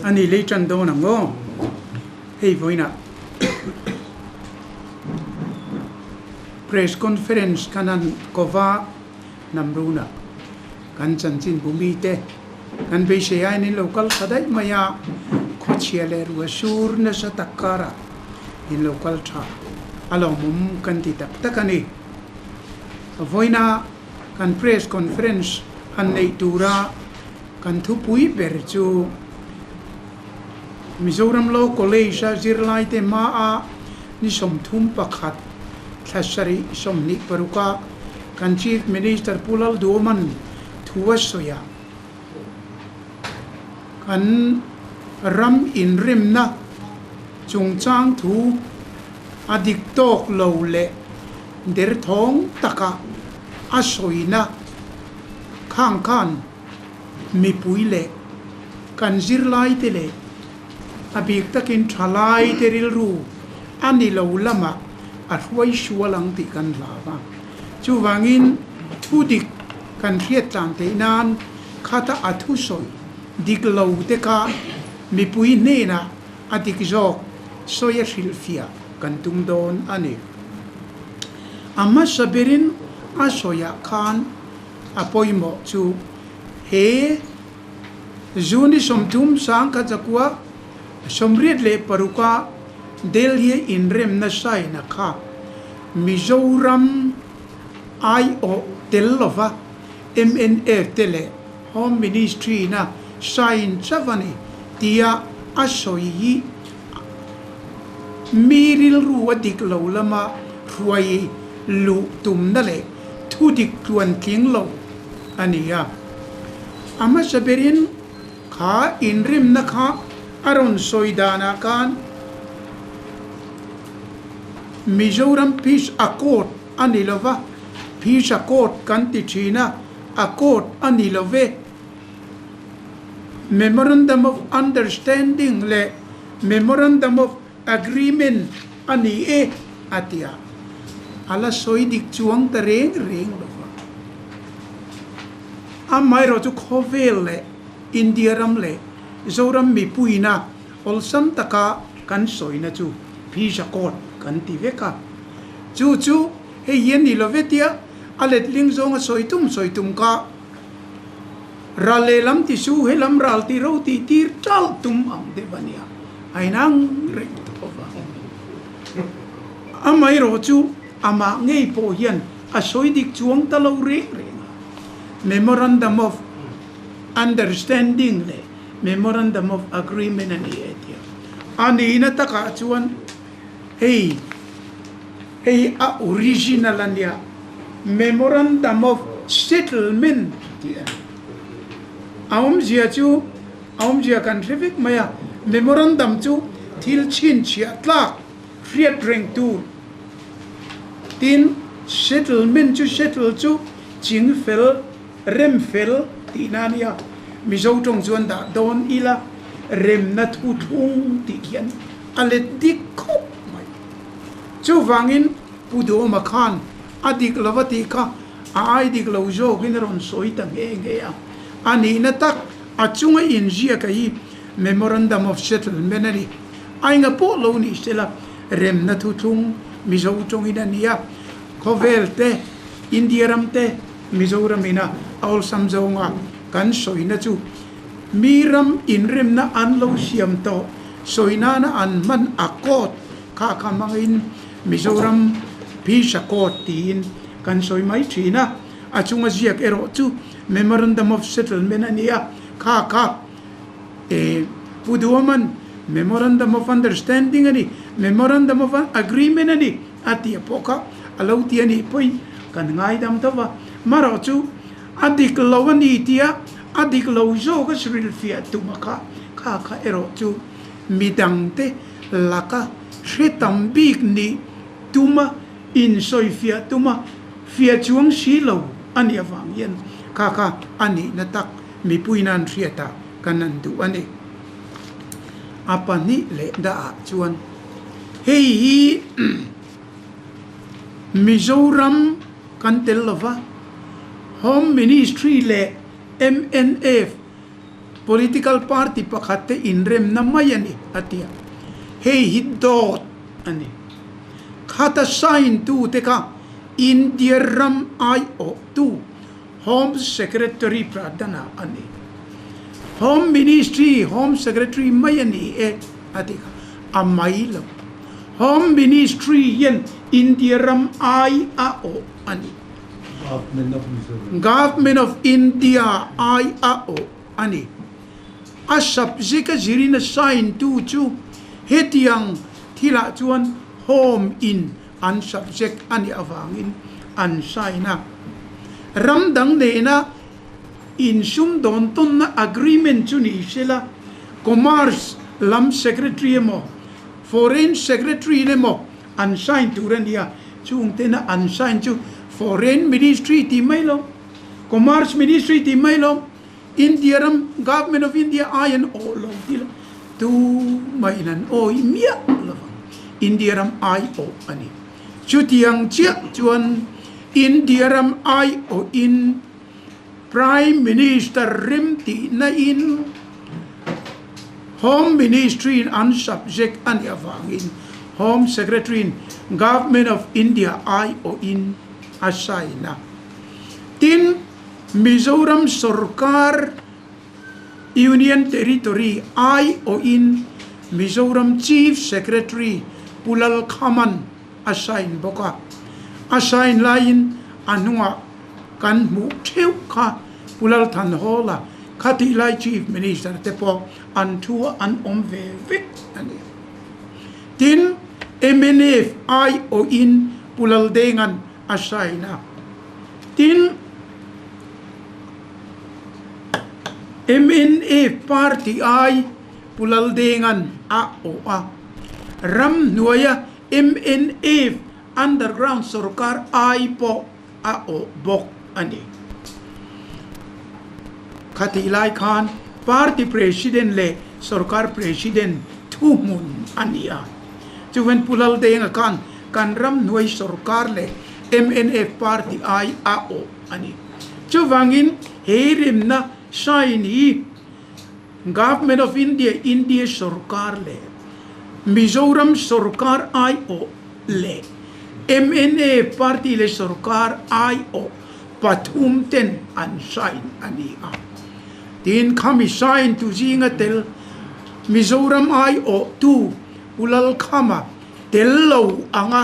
a ni lei tan dawn ang maw hei vawiinah press conference khan a kaw va namruna kan chanchinbu mite kan beisei aiin in lo kal tha daih mai a khawchhia leh ruahsur nasa tak karah in lo kal tha a lawmawm kan ti tak tak a ni vawiina kan press conference han neih tura. Kan thupui ber chu Mizoram Law College-a zirlaite hmaa ni sawmthum pakhat thla sarih sawmhnih paruka kan Chief Minister Pu Lalduaman thu a sawi a, kan ram inremna chungchang thu a dik tawk lo leh derthawng takah a sawina khang khan. mipui leh kan zirlaite leh a bik takin thalaite rilru a ni lo lamah a hruaisual ang tih kan hla va. Chuvangin thu dik kan hriat tlan theih nan khata a thu sawi dik lo te kha mipui hnenah a dik zawk sawi a hrilhfiah kan tum dawn a ni. A hmasa berin a sawiah khan. A pawimawh chu he June-i sawmthum sang kha chakua sawmriat leh paruka Delhi-a inremna saina kha Mizoram aiawh tel lova mna te leh Home Ministry-na sain chauh a ni tia a sawi hi mi rilru a dik lo lama hruai luh tumna leh Thu dik tluan tling lo a ni a, a hmasa berin kha inrimna kha a rawn sawi danah khan Mizoram Peace Accord a ni lo va, Peace Accord kan ti thin a, Accord a ni lo ve. Memorandum of Understanding leh Memorandum of Agreement a ni e a ti a, a la sawi dik chuang ta reng reng lo va. Amaherawh chu khawvel leh India ram leh Zoram mipuina awlsam taka kan sawina chu Visa code kan ti vek a. Chu chu hei hi a ni lo vetia a let leng zawnga sawi tum sawi tum kha. Ral lehlam ti chu he lam ral ti roti tir tal tum ang deuh a nia, a inang reng ta tawh va ang ni. Amaherawhchu amah ngei pawh hian a sawi dik chuang ta lo reng reng a. Memorandum of Understanding leh Memorandum of Agreement a ni e tia. A nihna takah chuan. Hei hi a original a nia, Memorandum of Settlement a ti a ni. A awmzia chu a awmzia kan hre vek mai a, Memorandum chu thil chhinchhiah tlak hriat reng tur, tin Settlement chu settle chu ching fel, Rem fel tih na nia Mizo tawng chuan dah dawn ila remna thu thlung tih hian a let dik khawp mai. Chuvangin Pu Dawma khan a dik lova tih kha a ai dik lo zawkin a rawn sawi ta nghe nghe a. A nihna tak a chunga inziaka hi Memorandum of Settlement a ni. A enga pawh lo nih se la remna thu thlung Mizo tawngin a nia. Khawvel te, India ram te, Mizoram in a awlsam zawng a kan sawi na chu mi ram in rem na an lo siam tawh sawi nan a an hman a court kha kha hmang in Mizoram phisa court ti in kan sawi mai thin a a chung a ziak erawh chu memorandum of settlement a nia kha kha e pu duaman memorandum of understanding a ni memorandum of agreement a ni. a ti a pawh kha a lo ti a nih pawhin kan ngai dam deuh a, marawh chu a dik lo a ni tia a dik lo zawk a hrilhfiah tuma kha kha kha erawh chu mi dang te laka hre tam bik nih tuma insawi fiah tuma fiah chuang si lo a nih avang hian kha kha a nihna tak mipuina an hriat a kan han duh a ni. A pahnih leh dah ah chuan hei hi Mizoram kan tel lo va, Home Ministry leh MNF political party pakhat te inremna mai a ni a ti a, hei hi dawt a ni. Khat a sign tu te kha India ram aiawhtu, Home Secretary Pradhana a ni. Home Ministry hi Home Secretary mai a ni e a ti kha, a mai lo. Home Ministry hian India ram ai a awh a ni. Government of India ai a awh a ni. A subject a zir in a sign tu chu hetiang thilah chuan Home in an subject a nih avangin an sign a. Ram dang nena insum dawn tawnna agreement chu ni hre la, Commerce lam Secretary emaw, Foreign Secretary in emaw an sign tur a nia, chung tena an sign chu Foreign Ministry tih mai lo, Commerce Ministry tih mai lo, India ram Government of India ai an aw lo hi lo, tu mai in an awi miah lo vang, India ram ai aw a ni. Chutiang chiah chuan India ram ai aw in Prime Minister remtihna in Home Ministry in an subject a nih avang in Home Secretary in Government of India ai aw in a sign a, tin, Mizoram sawrkar Union Territory ai awhin Mizoram Chief Secretary Pu Lalkhaman a sign bawk a, a sign laiin a hnungah kan hmuh theuh kha Pu Lalthanhawla khatih lai Chief Minister te pawh an thu an awm ve vek a ni. Tin, MNF ai awhin Pu Laldengan a sign a tin mna party ai pulaldengan a awh a ramhnuaia mna underground sawrkar ai pawh a awh bawk a ni khatih lai khan party president leh sawrkar president thuhmun a ni a chuan pulaldenga khan. Kan ram hnuai sorkar leh mna party ai a awh a ni. Chuvangin he rinna hrain hi Government of India, India sorkar leh Mizoram sorkar ai awh leh mna party leh sorkar ai awh pathum ten an hrain a ni a. Tin, khami hrain tu zinga tel Mizoram ai awhtu Ulal Khama, tel lo ang a,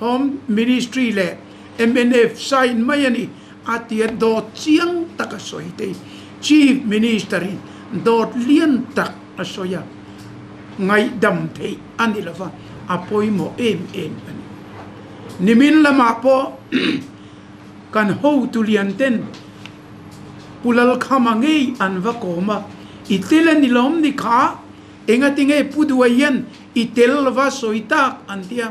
Home Ministry leh MNF sign mai a ni a tia dawt chiang tak a sawi thei. Chief Minister in dawt lian tak a sawi a, ngaihdam theih a ni lova, a pawimawh em em a ni. Nimin lamah pawh kan hotu lian ten Pulalkhama ngei an va kawm a, i tel a ni lawm ni kha, Enga tinge Pu Duai hian i tel lova sawi tak an ti a,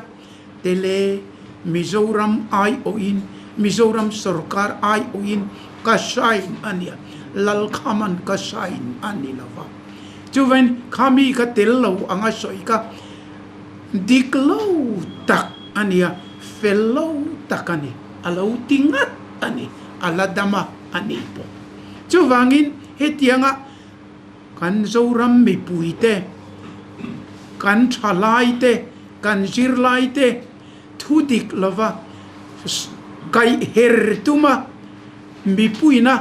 tele Mizoram aiawhin Mizoram sawrkar aiawhin ka hrain a nia, lal kha man ka hrain a ni lova, chuvain kha mi kha tel lo anga sawi kha dik lo tak a nia, fel lo tak a ni, a lo ti ngat a ni, a la dam a a nih pawh. Chuvangin hetianga. Kan Zoram mipui te, kan tha lai te, kan zir lai te thu dik lova kaih her tuma mipuina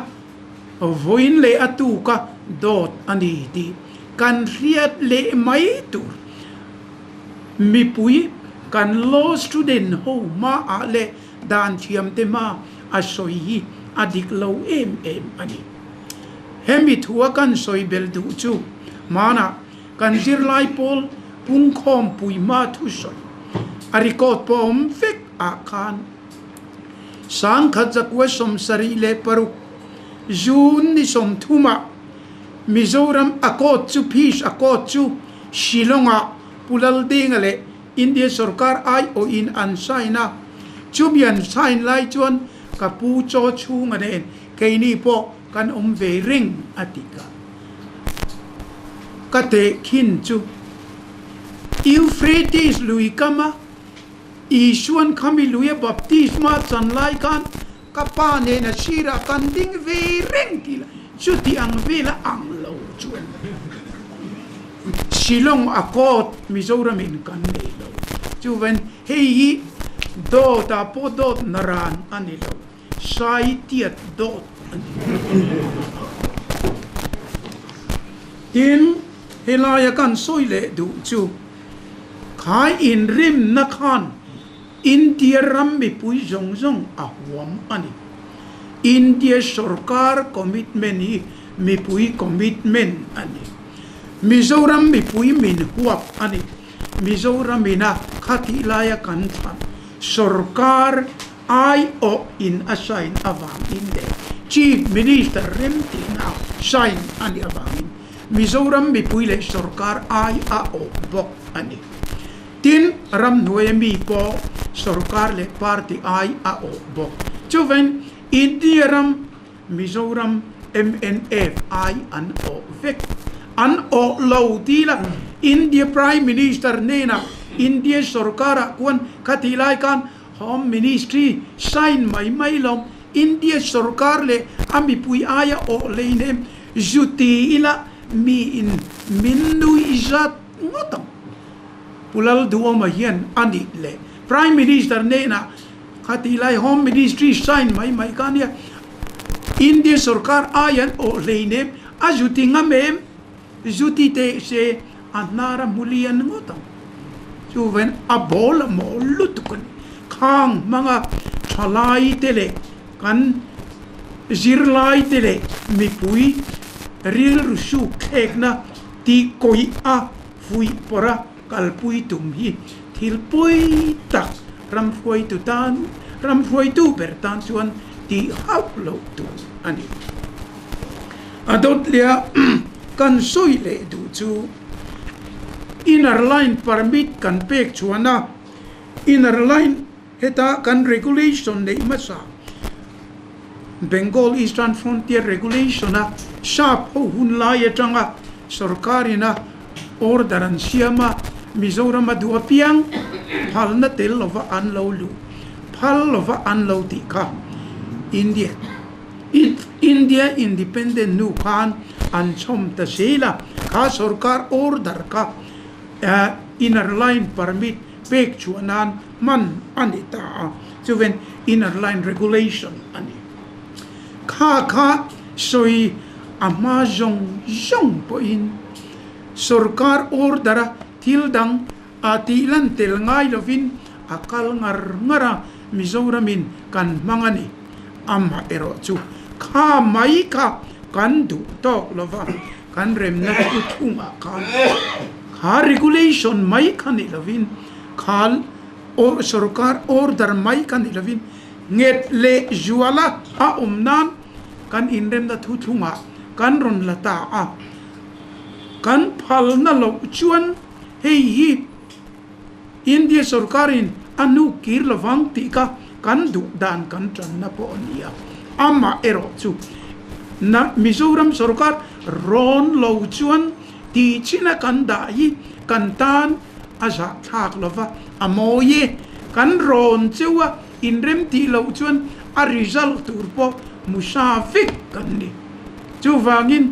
vawiin leh a tuka dawt a ni tih kan hriat leh mai tur mipui kan law student ho hma ah leh dan thiam te hma a sawi hi a dik lo em em a ni. Hemi thu a kan sawi bel duh chu hmanah kan zirlai pawl pungkhawm pui hma thu sawi a record pawh a awm vek ah khan Sangkhat zakua sawmsarih leh paruk June ni sawmthum ah Mizoram a court chu Peace a court chu Shillong ah Pulaldenga leh India sorkar aiawhin an sign a, chumi an sign lai chuan ka pu chaw chhunga nen keini pawh kan awm ve reng a ti ka ka tehkhin chu Euphrates lui kama Isuan khami luia baptisma chan lai khan Ka pa nen a chhir a kan ding ve reng ti la chuti ang vel a ang lo chuan Shillong a kawt Mizoram in kan nei lo chuan hei hi dawt a pawh dawt na ran a ni lo sai tiat dawt a ni tin he lai a kan sawi leh duh chu khai in rim na khan India ram mipui zawng zawng a huam a ni. India sawrkar commitment hi mipui commitment a ni. Mizoram mipui min huap a ni. Mizoram ina khatih laia kan thlan sawrkar ai awh in a sign avang in leh chief minister remtihna sign a nih avang in Mizoram mipui leh sawrkar ai a awh bawk a ni. Tin, ramhnuaia mi pawh sorkar leh party ai a awh bawk. Chuvên India ram, Mizoram MNF ai an awh vek. An awh lo tila India Prime Minister nênah India sorkarah kuan kha tih lai khan Home Ministry sign mai mai lo. India sorkar leh a mipui aia awh leinem zu ti ila miin min nui zat. Enge tak Pu Lalduawma hian a nih le? Prime Minister nena kha tih lai Home Ministry sign mai mai kha nia India sorkar ai an awh hleinem a zuti ngam em? Zuti teh se a hnar a hmu lian ngawt ang. Chuven a bawl a maw lutuk a ni. Khang hmanga thalai te leh kan zirlai te leh mipui rilru suk thlekna Tih kawi a fuihpawrha kalpui tum hi thil pawi tak ramhruaitu tan ramhruaitu ber tan chuan ti hauh loh tur a ni. A dawtliaa kan sawi leh duh chu inner line permit kan pek chhuahna inner line Heta kan regulation neih hmasa Bengal Eastern Frontier Regulation a sap ho hun lai atanga sorkar in a order an siam a, Mizoram a duh apiang phalna tel lova an lo luh, phal lova an lo tih kha India India independent hnu khan an chhawm ta si la, kha sorkar order kha inner line permit pek chhuah nan, hman a ni ta a, chuven inner line regulation a ni. Kha kha sawi a hma zawng zawng pawhin sorkar order-a thil dang a tih lan tel ngai lovin a kal ngar ngar a, Mizoramin kan hmang a ni, amaherawhchu kha mai kha kan duh tawk lova, kan remna chu chhungah khan kha regulation mai kha nih lovin kha sorkar order mai kha nih lovin nghet leh zuala a awm nan kan inremna thu chhungah kan rawn la ta a kan phalna loh chuan hei hi India sorkarin a hnuk kir lo vang tih kha kan duh dan kan tanna pawh a ni a, amah erawh chu Mizoram sorkar rawn lo chuan tihchhina kan dah hi kan tan a zahthlak lo va, a mawi e, kan rawn cheu a inrem tih loh chuan a result tur pawh hmu hra vek kan ni. Chuvangin.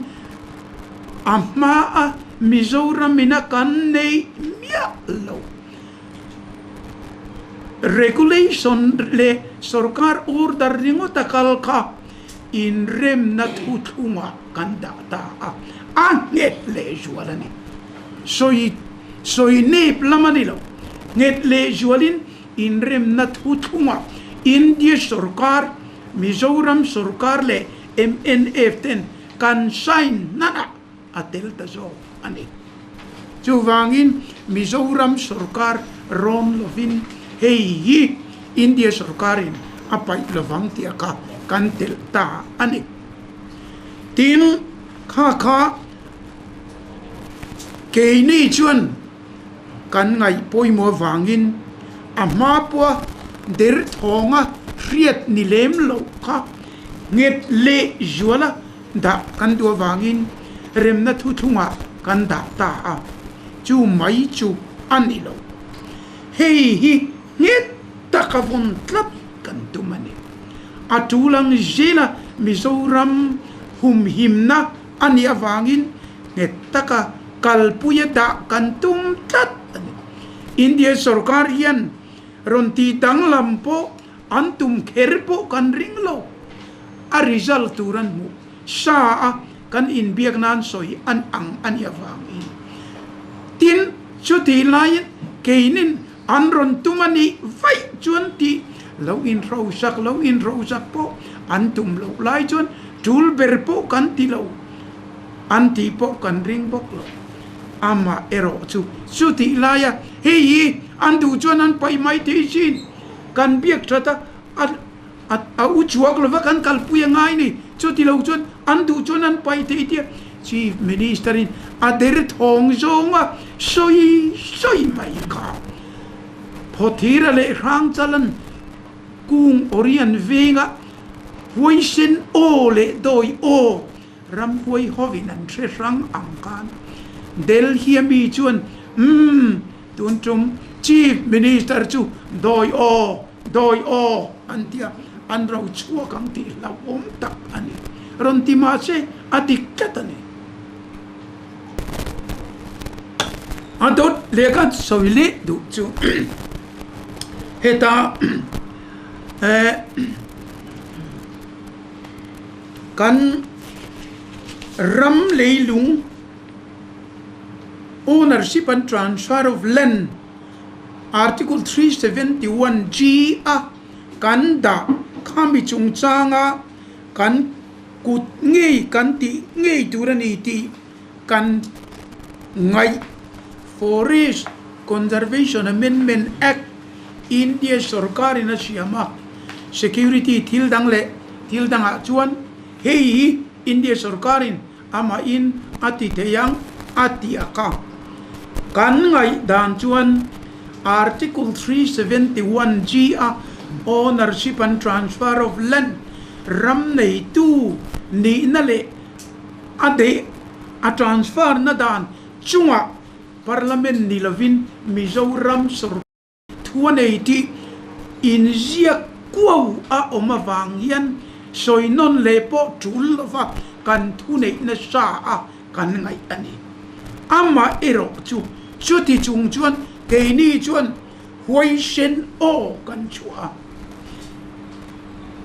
a hma a Mizoram in a kan neih miah lo regulation leh sawrkar order ringawt a kal kha inremna thuthlung ah kan dah ta a a nghet leh zual a ni sawi sawi nep lam a ni lo nghet leh zual in inremna thuthlung ah India sawrkar Mizoram sawrkar leh MNF ten kan sign hnanah a tel ta zawk a ni. Chuvangin Mizoram sorkar rawm lovin hei hi India sorkarin a paih lo vang tih kha kan tel ta a ni. Tin, Khakha keini chuan. kan ngaih pawimawh avangin a hma pawha derthawnga hriat ni lem loh kha nghet leh zuala dah kan duh avangin remna thu thungah kan dah ta a, chu mai chu a ni lo. Hei hi nghet taka vawn tlat kan tum a ni. A ṭul ang zela Mizoram humhimna A nih avangin nghet taka kalpui a dah kan tum tlat a ni. India sorkar hian rawn ti danglam pawh an tum kher pawh kan ring lo. A result tur an hmuh sa a, kan inbiak nan sawi an ang a nih avangin. Tin, chutih laiin keinin. An rawn tum a nih vaih chuan tih lo inhrosak lo inhrosak pawh an tum loh lai chuan tul ber pawh kan ti lo an tih pawh kan ring bawk lo. Amah erawh chu chutih laia hei hi an duh chuan an paih mai thei sin kan biak that a. a u chhuak lova kan kalpui a ngai nei chuti lo chuan an duh chuan an paih thei tia chief minister in a derthawng zawng a sawi sawi mai kha phawthira leh hrangchalan kung orian venga huaisen aw leh dawi aw ramhuai hovin an hre hrang ang khan delhi a mi chuan umm tun tum chief minister chu dawi aw Dawi aw an tia an rochhuak ang tih hlauhawm tak a ni. Rawn ti mah che a dik tlat a ni. A dawt leh ka sawi leh duh chu heta kan ram leilung ownership and transfer of land. Article three seventy one G a kan dah kha mi chungchanga kan kut ngei kan tih ngei tur a ni tih kan ngaih Forest Conservation Amendment Act India sorkar in a siam a security thil dang leh thil dang ah chuan hei hi India sorkar in amahin a ti theih ang a tiak a. Kan ngaih dan chuan Article three seventy one G a Ownership and Transfer of Land ram neitu nihna leh a deih a transfer na dan chungah Parliament ni lovin Mizoram sorkar Thu a nei tih inziak kuau a awm avang hian sawi nawn leh pawh tul lova kan thu neih nasa a kan ngaih a ni. Amah erawh chu chuti chung chuan keini chuan huaisen aw kan chhuah a,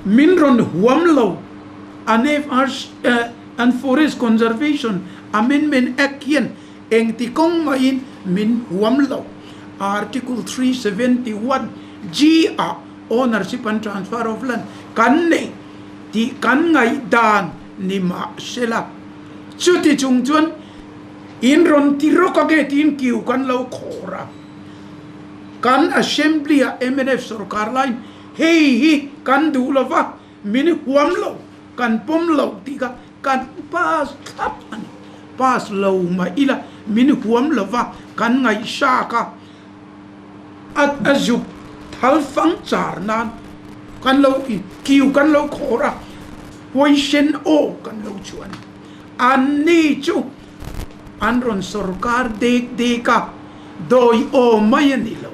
min rawn huam lo a NFRC, Forest Conservation Amendment Act, hian Engti kawng maiin min huam lo. Article three seventy one G ah ownership and transfer of land kan nei tih kan ngaih dan ni mah se la, chuti chung chuan in rawn ti rawk a nge tiin kiu kan lo khawr a. Kan Assembly ah mnf sawrkar laiin hei hi kan duh lova, min huam lo, kan pawm lo tih kha. Kan pass thlap a ni. Pass lo mah ila min huam lo va, kan ngaihsak a. A zuk thalfang char nan kan lo in kiu kan lo khawr a, position aw kan lo chuah a ni. An ni chu. an rawn sawrkar dek dek a, dawi awm mai a ni lo.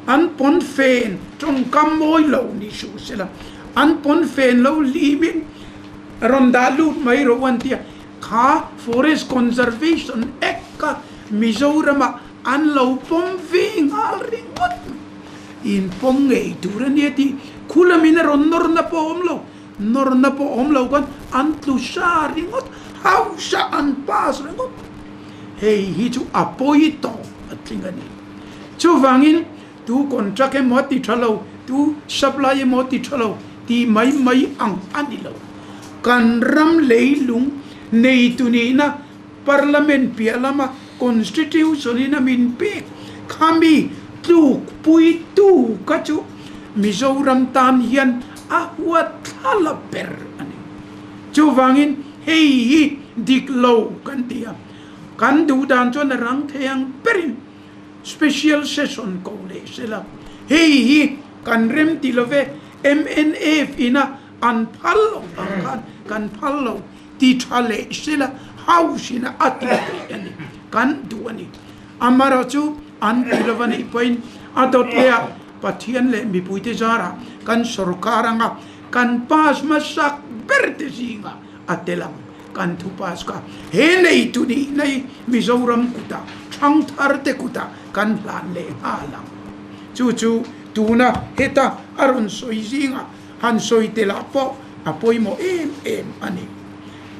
An pawnfen tawngkam mawi lo ni suh se la, an pawnfen lo hlim in rawn dah lut mai rawh an ti a, kha Forest Conservation Act kha Mizoram ah an lo pawm ve nghal ringawt mai, in pawm ngei tur a nia tih khulamin a rawn nawr na pawh a awm lo. Nawrna pawh awm lo khan an tlu hra ringawt, hauhra an pass ringawt. Hei hi chu a pawi tawh a tling a ni. Chuvangin tu contract emaw a ti tha lo, tu supply emaw a ti tha lo tih mai mai ang a ni lo. Kan ram leilung neitu nihna. Parliament piah lama Constitution in a min pek kha mi tluk pui tu kha chu Mizoram tan hian a huat thla la ber a ni. Chuvangin hei hi dik lo kan ti a, kan duh dan chuan a rang thei ang berin Special Session ko leh se la hei hi kan remti love MNF in a Kan phal lo vang khan kan phal lo ti tha leh hrila hauhrina a ti theih a ni, kan duh a ni. Amarawh chu an ti lo va nih pawhin a dawt leh a, Pathian leh mipuite zara kan sorkar anga kan pass hmasak ber te zinga a tel ang, kan thu pass kha he nei tu nihna hi Mizoram kuta thangthar te kuta kan hlan leh nghal ang. Chu chu tuna heta a rawn sawi zing a. han sawi tel ah pawh a pawimawh em em a ni.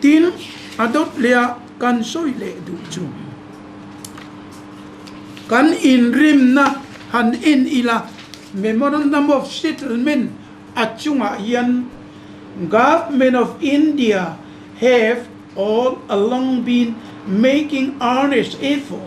Tin, a dawt leh a kan sawi leh duh chu kan inrimna han en ila Memorandum of Settlement a chungah hian Government of India have all along been making earnest effort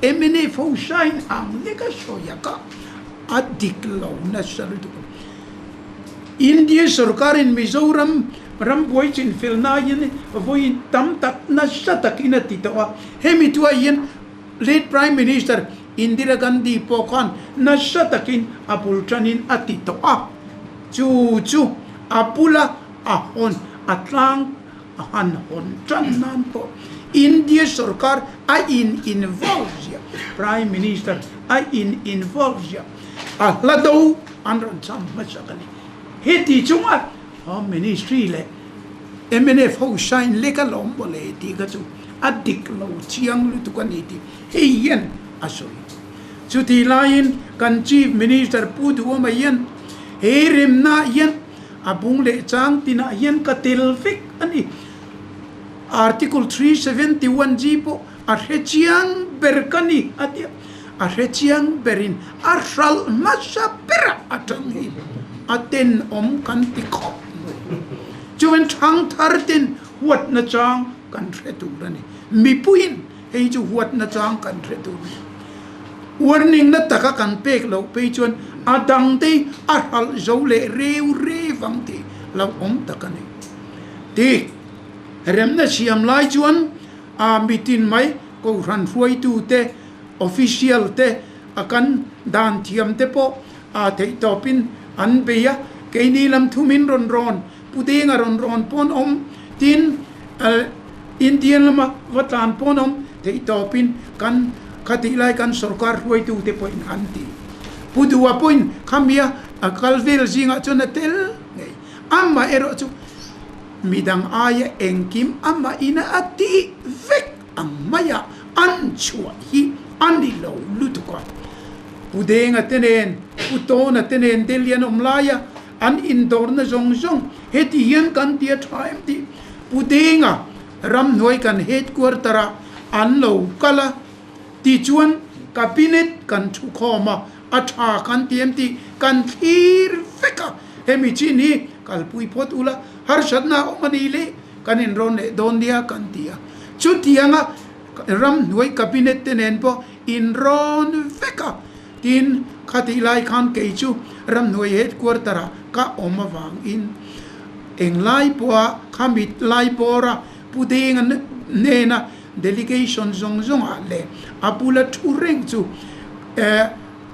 Emily fo sain ang lek a sawi a kah a dik lo nasal duh a. India sorkar in Mizoram ram buai chin fel nai in vawi in tam tak nasa tak in a ti tawh a, hemi thua hian late prime minister Indira Gandhi pawh khan nasa tak in a bul tan in a ti tawh a, chu chu a bula a hawn a tlang. a han hawn tan nan pawh India sorkar a in involve ziah prime minister a in involve ziah a hla do an rawn cham hmasak a ni heti chunga home ministry leh mnf ho sign lek a lawm maw le tih kha chu a dik lo chiang lutuk a ni tih hei hian a sawi chutih laiin kan chief minister pu duamah hian he remna ah hian A bung leh chang tinah hian ka tel vek a ni. Article three seventy one G pawh a hre chiang ber ka ni a ti a. A hre chiang berin a hralh hmasa bera a chang hi a tenawm kan ti khawp mai. Chuan thangthar ten huatna chang kan hre tur a ni. Mipuiin Hei chu huatna chang kan hre tur mai a, uarningna taka kan pek loh phei chuan a dang te hi a hralh zo leh reu reu ang tih lo awm tak a ni. Ti remna siam lai chuan aa mitin mai Kohhran hruaitu te official te a kan dan thiam te pawh aa theihtawp in an bei a, keini lam thumin rawn rawn Pu Denga rawn rawn pawn awm tin Indian lama va tlan pawn awm theih tawpin kan khatih lai kan sorkar hruaitu te pawhin an ti. Pu Dua pawhin khamia a kal vel zingah chuan a tel ngei. Amah erawh chu midang aia engkim amah ina a tih vek ang mai a, an chhuah hi a ni lo lutuk a. Pu Denga te nen, Pu Tawna te nen Delhi an awm lai a, An indawrna zawng zawng heti hian kan ti a tha em tih Pu Denga ramhnuai kan headquarter ah an lo kal a, tichuan Cabinet kan thu khawm a, a tha kan ti em tih kan thlir vek a, hemi chin hi kalpui phawt ula harsatna a awm a ni le kan inrawn leh dawn nia kan ti a. Chutianga ramhnuai Cabinet te nen pawh. In rawn vek a, tin kha tih lai khan kei chu ramhnuai headquarter ah ka awm avang in eng lai pawha kha mit lai pawr a pu deng a nen a delegation zawng zawng ah leh a bula thu reng chu eh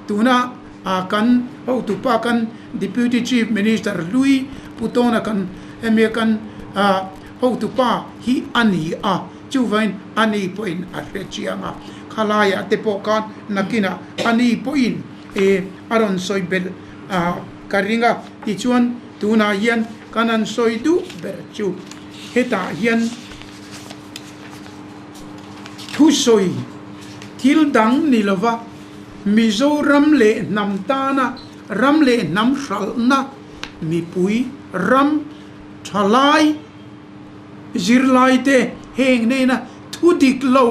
tuna ah kan hotu pa kan deputy chief minister hlui pu tawna kan hemi a kan ah hotu pa hi a ni a. Chuvangin ani pawhin a hrechiang a, khalaia te pawh khan nakinah ani pawhin ee a rawn sawi belh a, ka ring a, tichuan tunah hian ka rawn sawi duh ber chu hetah hian thusawi thil dang ni lova Mizoram leh hnam tana ram leh hnam hralhna mipui ram thalai zirlaite heng hnena thu dik lo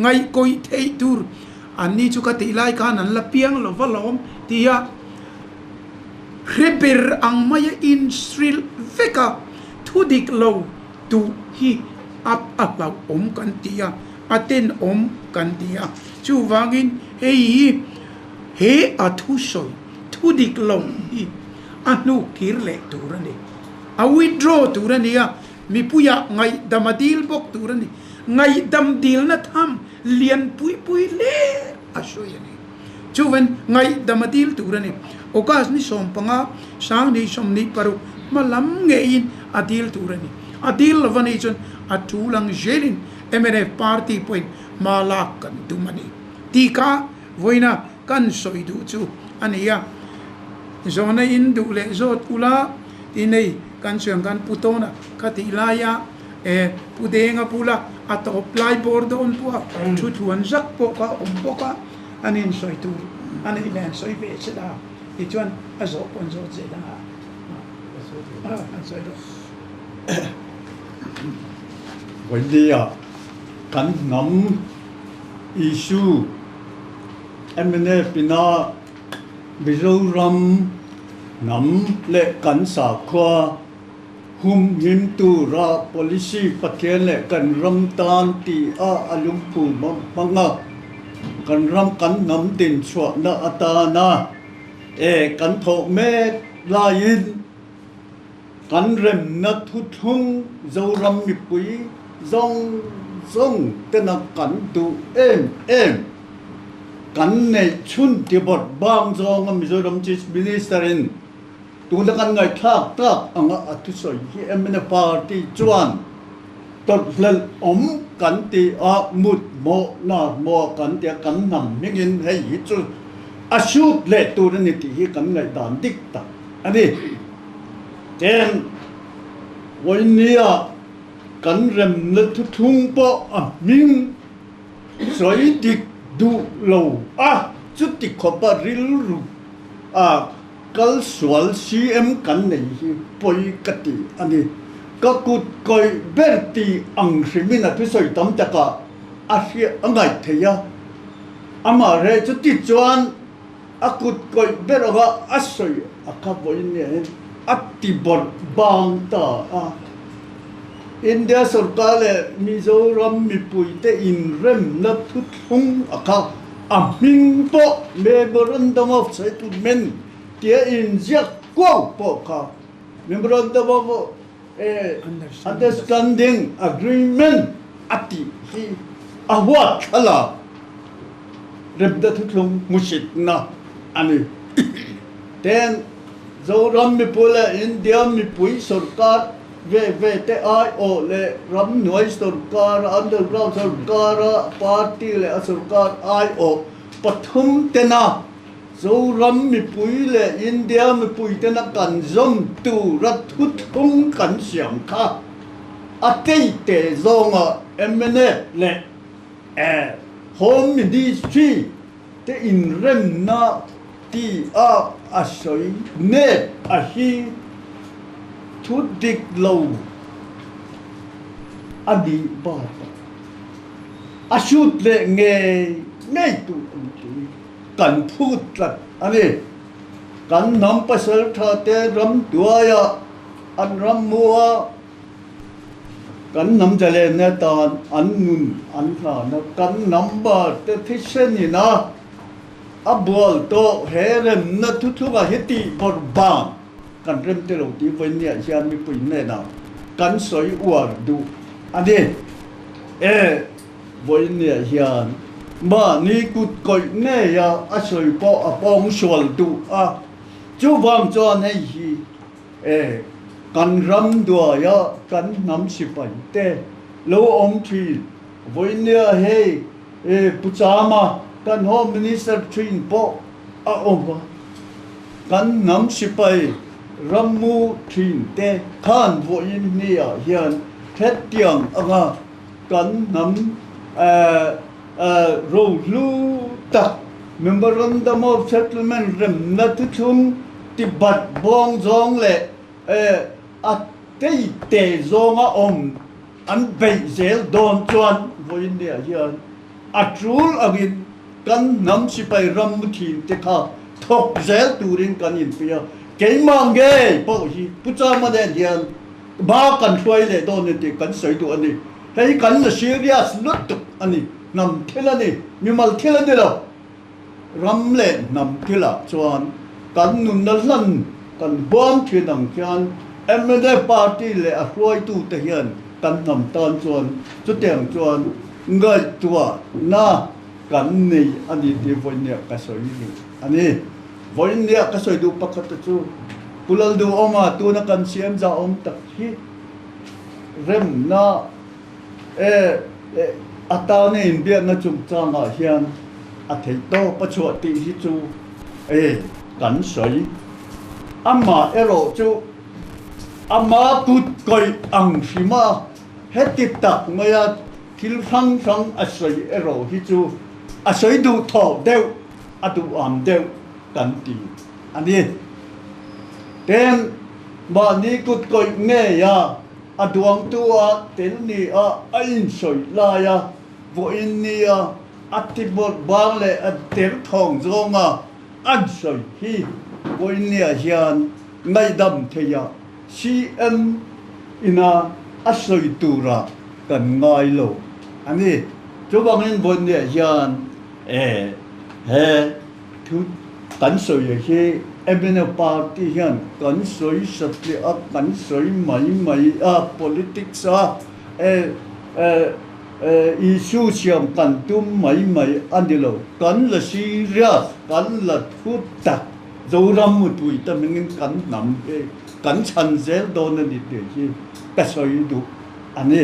ngaihkawih theih tur an ni chu ka tih lai khan an la piang lo va lawm ti a hre ber ang mai a in hrilh vek a thu dik lo duh hi a hlauh awm kan ti a a ten awm kan ti a chuvangin hei hi he a thusawi thu dik lo hi a hnuk kir leh tur a ni. a withdraw tur a ni a, mipuia ngaihdam a dil bawk tur a ni. Ngaihdam dilna tham lianpui pui hle a hruai a ni. Chuvin ngaihdam a dil tur a ni. August ni sawm panga sang ni sawm ni paruk hma lam ngeiin a dil tur a ni. A dil lova ni chuan a thu lang zelin mnf party pawhin hma lak kan tum a ni tih kha vawiin a kan sawi duh chu a ni a, zawhna in duh leh zawt ula i nei kan chuan kan pu tawn a, khatih laia e pu deng a bula a tawp lai bawr dawn pawha thu thuan zak pawh ka awm bawk a, an in sawi tur a neih leh an sawi ve che la tichuan a zawh pawn zawt zet a ni a. Emine Pina Mizoram hnam leh kan sakhua hum hlim tura policy Pathian leh kan ram tan tia a lungphu hmang hmang a, kan ram kan hnam din chhuahna atana e kan thawh mek laiin, Kan remna thuthlung Zoram mipui zawng zawng te na kan duh em em. Kan neih chhun tibawt bang zawnga Mizoram Chief Minister in tuna kan ngaihthlak tak anga a thusawi hi MNA party chuan tawlhhlelh awm kan ti a, mut maw nar maw kan ti a, kan hnam hming in hei hi chu a shoot leh tur a ni tih hi kan ngaihdan dik tak a ni. Eng vawi nia kan remna thuthlung pawh a hming sawi dik duh lo a, chuti khawpa rilru a kal sual CM kan nei hi pawi ka ti a ni. Ka kut kawih ber ti ang hrimin a thusawi tam taka a hriat a ngaih thei a, amaherechuti chuan, A kut kawih ber ang a, a sawi a ka vawi nia in a ti bawrh bang ta a. India sorkar leh Mizoram mipui te in remna thutthlung a kha a hming pawh Memorandum of Settlement tia in ziak kuau pawh kha Memorandum of Understanding, Agreement, a tih hi a huat thlalak Repda Thuthlung hmuhsitna a ni. Then, Zoram mipu leh India mipui sorkar ve ve te ai awh leh ram hnuai sorkar, underground sorkar, a party leh a sorkar ai awh pathum tena, Zoram mipui leh India mipuiten a kan zawm tura thuthum kan siam kha a tei teh zawngah MNA leh Home Ministry te inremna ti a a sawi nêt a hi thu dik lo a nih bâk a, a hrut leh ngei ngei tur a ni. kan phut tlat a ni. Kan hnam pasal tha te ram tuai ah an ram mu a, kan hnam jalen nen tan an nun an hlan a, kan hnam bar te thisen in a a bual tawh he remna thuthlung ah hi tih bawr bang kan rem ti lo ti vawiin niah hian mipui hnenah kan sawi uar duh a ni. E. Vawinia hian mahni kut kawih ngeia a sawi pawh a pawng sual duh a, chuvang chuan hei hi e, kan ram duaia kan hnam sipai te lo awm thin, Vawinia hei e, Pu Chama kan Home Minister thin pawh a awm a, kan hnam sipai rammu thin te khan vawiin hniah hian thlet tiang anga, Kan hnam rohlu tak Memorandum of Settlement remna te chung Tibet bawng zawng leh a tei te zawng a awm an beih zel dawn chuan Vawinia hian a tul angin kan hnam sipai ram muthin te kha thawk zel turin kan inpui a. Keimah nge pawh hi Pu Chama nen hian Ba kan hruai leh dawn ni tih kan sawi duh a ni. Hei hi kan la serious lutuk a ni. Hnam thil a ni, mimal thil a ni lo. Ram leh hnam thil ah chuan kan nunna hlan kan huam thin ang khian mnf party leh a hruai tu te hian kan hnam tan chuan chutiang chuan ngaihtuah na kan nei a ni tih vawiin nia ka sawi a ni. A ni. Vawiin nia ka sawi duh pakhat te chu Pu Laldu Awnga tuna kan siam za awm tak hi remna e atana inbiakna chungchangah hian a theihtawp a chhuah tih hi chu e kan sawi. Amah erawh chu ama kut kawih ang hrim a, heti tak maia thil hrang hrang a sawi erawh hi chu a sawi duh thawh deuh. a duham deuh kan ti a ni. Tel mahni kutkawih ngeia a duangtu ah tel ni a a insawi lai a, vawiin ni a a tibawt bang leh a tel thawng zawng a an sawi hi vawiin ni ah hian ngaihdam thei a CM ina a sawi tur ah kan ngai lo a ni. Chuvangin vawiin ni ah hian. Eh, he thu kan sawia hi Emina party hian kan sawi satliah a, kan sawi mai mai a, politics a, eh, issue siam kan tum mai mai a ni lo. Kan la serious, kan la thu tak Zoram mutui te hmingin kan hnam hi, kan chhan zel dawn a ni tih hi ka sawi duh a ni.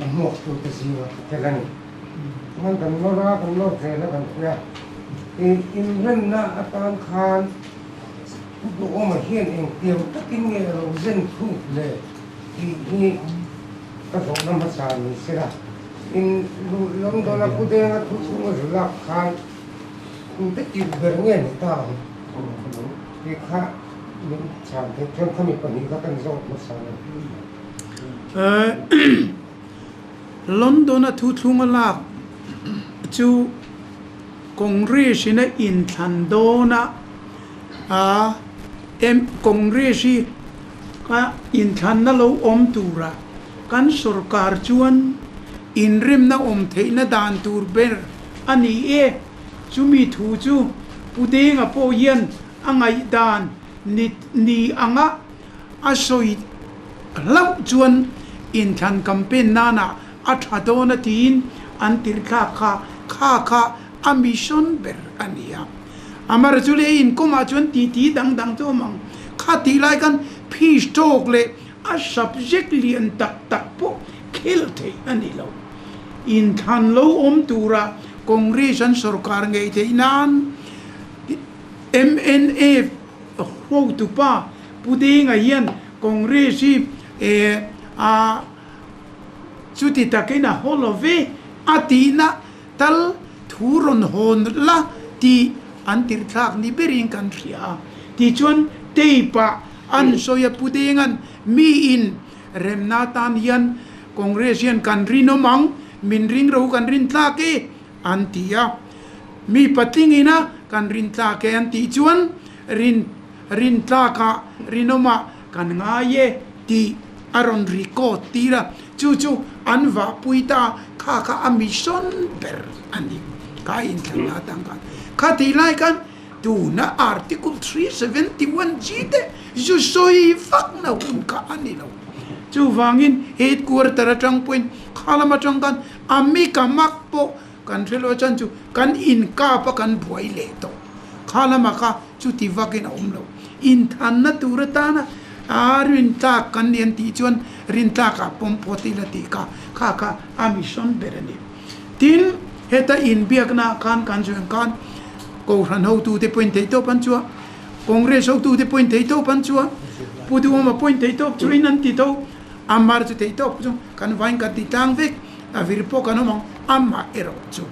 a hmuaktu te zira ka tel a ni. Chuan kan nawr a, kan nawr zel a kan hria a. I inremna atan khan ka duhawma hian engtiang takin nge a lo zen thut le tih hi ka zawhna hmasa ni se la, in London a khudenga thu chhunga zu lak khan in be tirh ber nge ni ta ang? Tih kha min chhan theih chuan kha mi pahnih kha kan zawt hmasa lo. London-a thu thlung a lak chu Congress-in a inthlan dawn a, Congress hi inthlanna lo awm tura kan sawrkar chuan inremna awm theihna dan tur ber a ni e, chumi thu chu Pu Denga pawh hian a ngaihdan ni ang a, A sawi hlauh chuan inthlan campaign nanah a tha dawn a tiin an tirhthlak kha kha kha a mission ber a ni a. Amar chu lei inkomah chuan titi dang dang chu a mang. Kha tih lai khan phis tawk leh a subject lian tak tak pawh khelh theih a ni lo. Inthlan lo awm tura Congress an sawrkar ngei theih nan MNA Hotupa Pu Denga hian Congress hi chuti takin a haw lo ve a tihna tal thu rawn hawn la tih an tirhthlak ni berin kan hria a. Tichuan tape ah an sawi a, Pu Denga'n mi inremna atan hian Congress hian kan rinawm ang, min ringrau kan rinthlak e. An ti a, mi patling ina kan rin tlak e an tih chuan rin rin tlakah rinawmah kan ngai e tih a rawn record tir a, chu chu an vahpui ta kha kha a mission ber a ni, ka in thlan la tan khan kha tih lai khan tuna article three seventy one G te zu sawi vak na hun kha a ni lo, chuvangin headquarter atang pawhin khalamatang khan A mi ka mak pawh kan hre lua chuan chu kan inkap a kan buai leh tawh kha la mak a, chuti vakin a awm lo. Inthanna tur atana aa rintlak kan ni an tih chuan rintlakah pawm phawt ila tih ka kha kha a mission ber a ni. Tin, heta inbiaknaah khan kan zawih ang khan Kohhran hotute pawhin thei tawp an chuah, Congress hotute pawhin thei tawp an chuah, Pu Duhawma pawhin thei tawp chuahin an ti tho. Amar chu thei tawk chu kan vai kan ti tlang vek a vir pawh kan awm ang amah erawh chu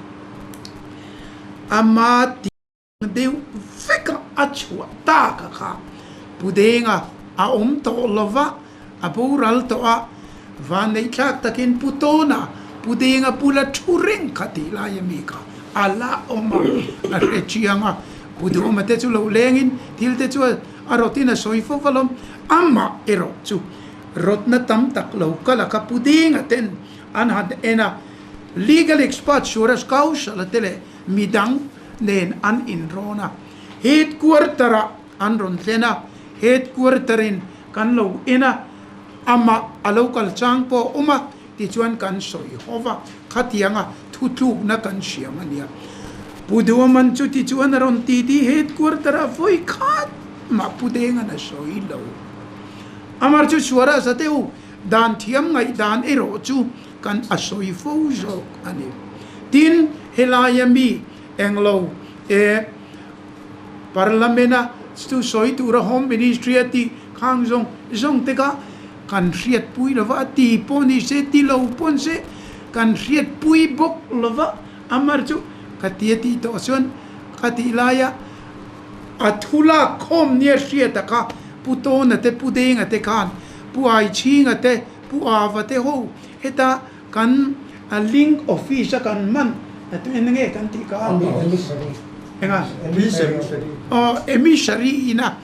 ama ti deuh vek a a chhuah tak a kha pu denga a awm tawh lova a boral tawh a vaneihthlak takin pu tawna pu denga bula thu reng kha tih lai a mi kha a la awm a a hre chiang a pu duhma te chu lo lengin thil te chu a rottin a sawi fo va lawm amah erawh chu rawtna tam tak lo kal a ka pu ding ah ten an han en a, legal expert Suresh Kaushala te leh mi dang nen an in rawn a, headquarter ah an rawn thlen a, headquarter in kan lo en a, amah a lo kal chang pawh a awm a, Tichuan kan sawi haw va, khatianga thutlukna kan siam a nia. Pu Duaman chu tichuan a rawn ti di, Headquarter a vawi khat mah Pu Dengan a sawi lo. Amar chu suara zateu dan thiam ngaihdan erawh chu kan a sawi fo zawk a ni. Tin, helaia mi englo eh Parliament-a chu sawi tura Home Ministry-a tih khang zawng zawng te kha, Kan hriatpui lo va, a ti pawh ni se, ti lo pawh an si, kan hriatpui bawk lo va, Amar chu ka ti a tih tawh chuan ka tih laia a thu lak khawm nia hria taka Pu Tawna te Pu Denga te khan Pu Aichhinga te Pu Ava te ho heta Kan a link office a kan hman tu en nge kan tih ka enga aw emissary ina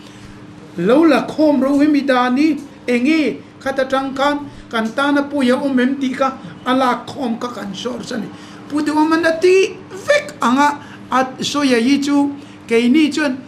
lo la khawm ro em i dan i enge khat atang khan kan tan a pawi a awm em tih kha a lak khawm kha kan source a ni pu deuh a man a tih vek ang a a sawi a hi chu keini chuan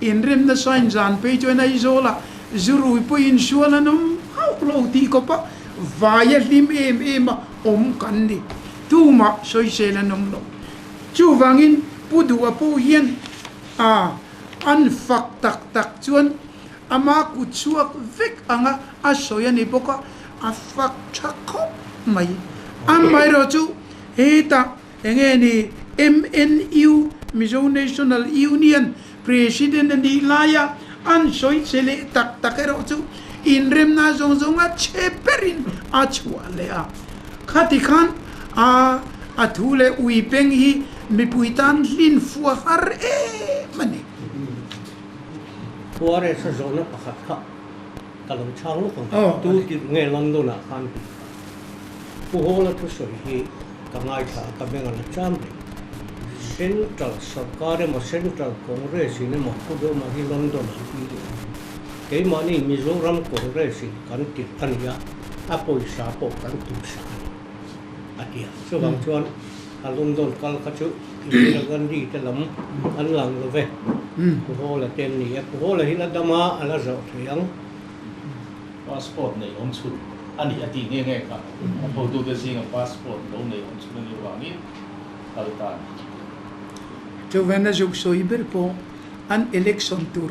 Inremna sign zan phei chuan Aizawla zu rui pawhin sual a nawm hauh lo tih kawpa vai a hlim em em a awm kan ni. Tumah sawisel a nawm lo. Chuvangin Pu Duhwa pawh hian ah an fak tak tak chuan ama kut chhuak vek anga a sawi a ni bawk a, a fak tha khawp mai. Amaherawhchu hetah Eng nge ni? MNU, Mizo National Union, President a nih laia an sawi che leh tak tak erawh chu inremna zawng zawnga che berin a chhuah leh a. Khati khan a a thu leh ui peng hi mipui tan hlin fuah har em a ni. Khuaresa zawhna pakhat kha. Ka lo chhang lawk ang a tu tih nge London ah khan hmu a Pu Hawla thusawi hi ka ngaithla a ka beng a la cham reng Central sawrkar emaw Central Congress in emaw Pu Dawma hi London an pi leh a keimahni Mizoram Congress in kan tirh a ni a a pawisa pawh kan tumsa a ni a ti a chuvang chuan a London kal kha chu Indira Gandhi te lam an lang lo ve. Pu Hawla te an ni a, Pu Hawla hi la dam a, a la zawh theih ang. Passport neihawm chhun a ni a tih nge nge kha a thotute zinga passport lo neihawm chhun a nih avangin kal ta a ni. Chu Venezuela sawi ber pawh an election tur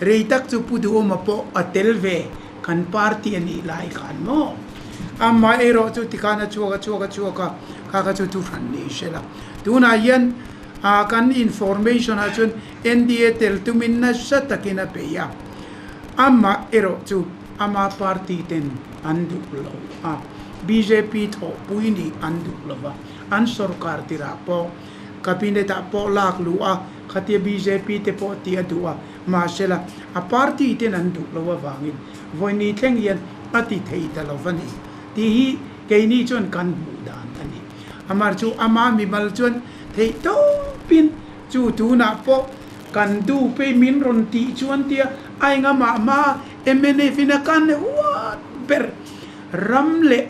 rei tak chu pu duhawma pawh a tel ve kan party a nih lai khan maw amah erawh chu tikhan a chhuak a chhuak a chhuak a kha kha chu chu hran leh hre la tunah hian ah kan information ah chuan NDA tel tumin nasa takin a peih a amah erawh chu ama party ten an duh lo a bjp thlawhpui nih an duh lova an sawrkar tirah pawh cabinet ah pawh lak luh a Khatia bjp te pawh tih a duh a, mahsela a party ten an duh loh avangin Vawini thleng hian a ti thei ta lo va ni tih hi keini chuan kan hmuh dan a ni. Amar chu ama mimal chuan theih tawpin chu tunah pawh kan duhpe min rawn tih chuan tia a enga mah mah a mnf in a kan huat ber ram leh,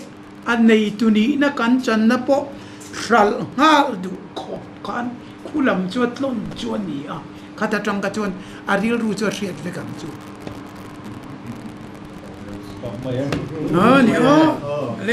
A neitu nihna kan channa pawh hralh nghal duh khawp khan khu lam chu a tlawn chu a ni a, khat atang kha chuan a rilru chu a hriat vek ang chu.